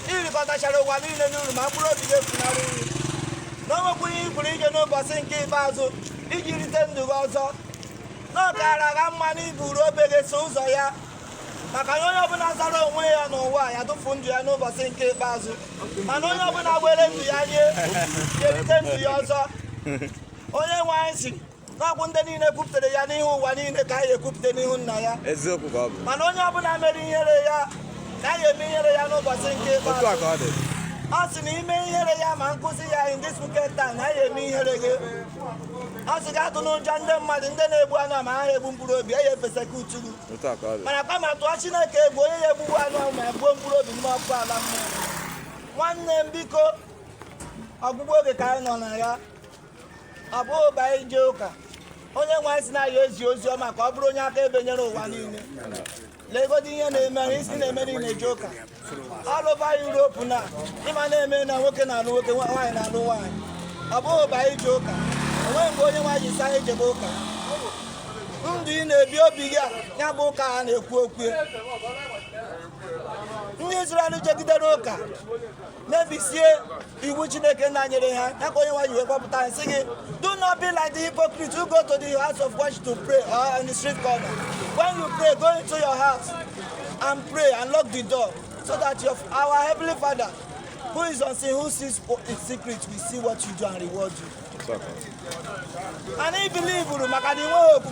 i rikọtachara ụwa niile n'uru ma mkpụrụ obi gị efunarị gị na o nwekwuru ihe ị pụrụ inye n'ụbọchị nke ikpeazụ iji rite ndụ gị ọzọ na ọ kaara gha mma na i buru obe gị so ụzọ ya maka na onye ọbụla zara onwe ya n'ụwa a ya tụfu ndụ ya n'ụbọchị nke ikpeazụ mana onye ọbụla were ndụ ya nye ga-erite ndụ ya ọzọ onye nwe anyị sịrị na ọ bụ ndị niile kwupụtara ya n'ihu ụwa niile ka ya ekwupụta n'ihu nna ya eziokwu ka ọ bụ mana onye ọbụla mere ihere ya na ya eme ihere ya n'ụbọchị nke otu a ikpeazụ ka ọ dị ọ sị na i mee ihere ya ma nkuzi ya in this wicked time na ya eme ihere gị ọ sị gị atụna ụjọ ndị mmadụ ndị na-egbu anụ ahụ ma ha egbu mkpụrụ obi ya efesa ka uturu otu a ka ọ dị mana kama tụọ chineke egwu onye ya egbugbu anụ ahụ ma egbuo mkpụrụ obi n'ime ọkụ ala mmụọ nwanne m biko ọgwụgwụ oge ka anyị nọ na ya ọ bụghị ụba n'ije ụka onye nwe anyị sị na a ya-ezi ozi ọma ka ọ bụrụ onye akaebe nyere ụwa niile legodi ihe na-eme ahụ isi na-eme ndị na-eje ụka all over Europe na ị ma na-eme na nwoke na-alụ nwoke nwaanyị na-alụ nwaanyị ọ bụghị ụba n'ije ụka o nweghị mgbe onye nwe anyị sị anyị jebe ụka ndụ ị na-ebi obi gị a ya bụ ụka a na-ekwu okwu ndị Izrel jegidere ụka mebisie iwu chineke nna nyere ha ya ka onye nwe anyị wee kpọpụta anyị sị gị do not be like the hypocrite who go to the house of worship to pray or on the street corner when you pray go into your house and pray and lock the door so that your our heavenly father who is unseen who sees in secret will see what you do and reward you. and he believe maka na i nweghị okwu